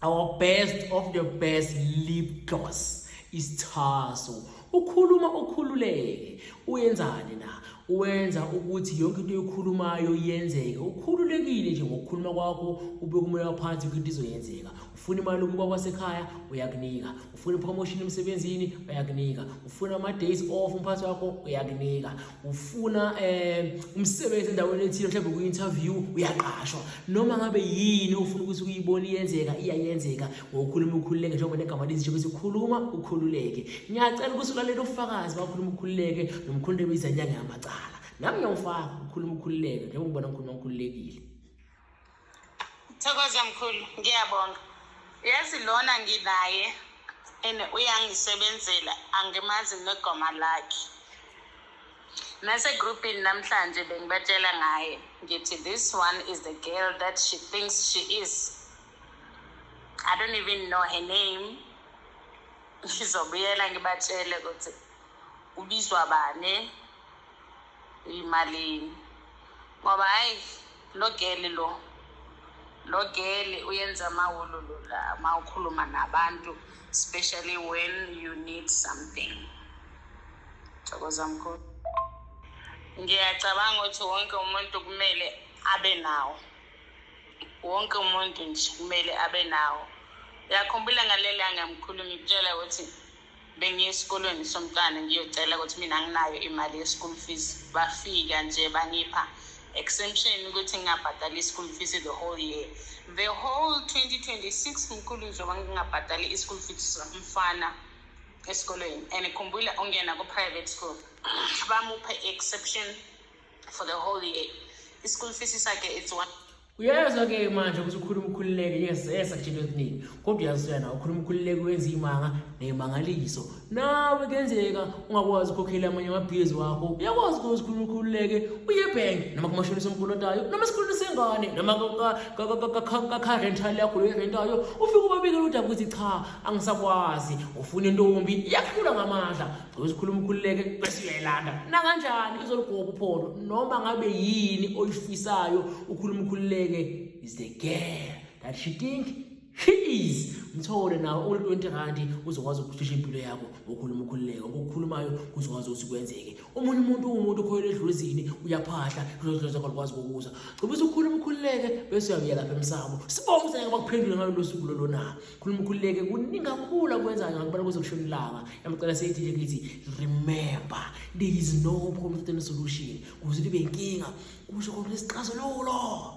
our best of the best lip gloss isithaso ukhuluma ukhululeke uyenzani na uwenza ukuthi yonke into oyikhulumayo yenzeke ukhululekile nje ngokukhuluma kwakho ube kumoya phansi ukuthi izoyenzeka ufuna imali ukuba wasekhaya uyakunika ufuna ipromotion emsebenzini uyakunika ufuna ama-days off umphathi wakho uyakunika ufuna eh umsebenzi endaweni ethile mhlawumbe ku interview uyaqashwa noma ngabe yini ufuna ukuthi uyibone iyenzeka iyayenzeka ngokukhuluma ukhululeke njengoba negama lithi ukuthi ukhuluma ukhululeke ngiyacela ukuthi ulalele ufakazi bakhuluma ukhululeke nomkhululeke izanyanga yamacala nami ngiyawufaka ukhuluma ukhululeke njengoba ngibona ngikhuluma ngikhululekile Thokoza mkhulu, ngiyabonga. Yazi lona nginaye and uyangisebenzela angimazi negoma lakhe. Nase groupini namhlanje bengibatshela ngaye ngithi this one is the girl that she thinks she is. I don't even know her name. Ngizobuyela ngibatshele ukuthi ubizwa bani iyimalini ngoba hayi lo gele lo lo gele uyenza amawololo la uma ukhuluma nabantu especially when you need something thokoza mkhulu ngiyacabanga ukuthi wonke umuntu kumele abe nawo wonke umuntu nje kumele abe nawo uyakhumbula ngalelanga mkhulu ngikutshela ukuthi bengiye esikolweni somntwana ngiyocela ukuthi mina anginayo imali ye-school fees bafika nje bangipha exemption ukuthi ngingabhadali i-school fees the whole year the whole 2026 mkhulu njengoba ngingabhadali i-school fees mfana esikolweni and khumbula ungena ku-private school bamuphe i-exception for the whole year i-school fees sakhe it's one uyezwa ke manje ukuthi ukhuluma ukhululeke yes yes akutshela okuningi kodwa uyazisoya nawe ukhuluma ukhululeke wenza iy'manga ney'mangaliso nawe kuyenzeka ungakwazi ukhokhela amanye amabhizi wakho uyakwazi ukuthi ukhuluma ukhululeke uye ebhenki noma kumashonisa omkolotayo noma esikhulwini sengane noma kakharentali yakho loyirentayo ufike ubabikela udaba ukuthi cha angisakwazi ufuna intombi iyakuhlula ngamandla uzikhuluma ukhululeke bese uyayilanda nakanjani izoligoba uphondo noma ngabe yini oyifisayo ukhuluma ukhululeke is the girl that she think she is mthole nawo uli 20 rand uzokwazi ukucisha impilo yakho ngokhuluma ukhululeke ngokukhulumayo kuzokwazi ukuthi kwenzeke omunye umuntu uwumuntu okhoyela edluzini uyaphahla lozozakho likwazi kokuza gcobisa ukukhuluma ukhululeke bese uyabuyela lapha emsamo sibonge ukuthi ngeke bakuphendule ngalolu suku lolona khuluma ukhululeke kuningi kakhulu akwenzayo ngakubala kuze kushona ilanga yamcela seyithi nje kithi remember there is no problem solution kuze libe inkinga kusho konke isixazululo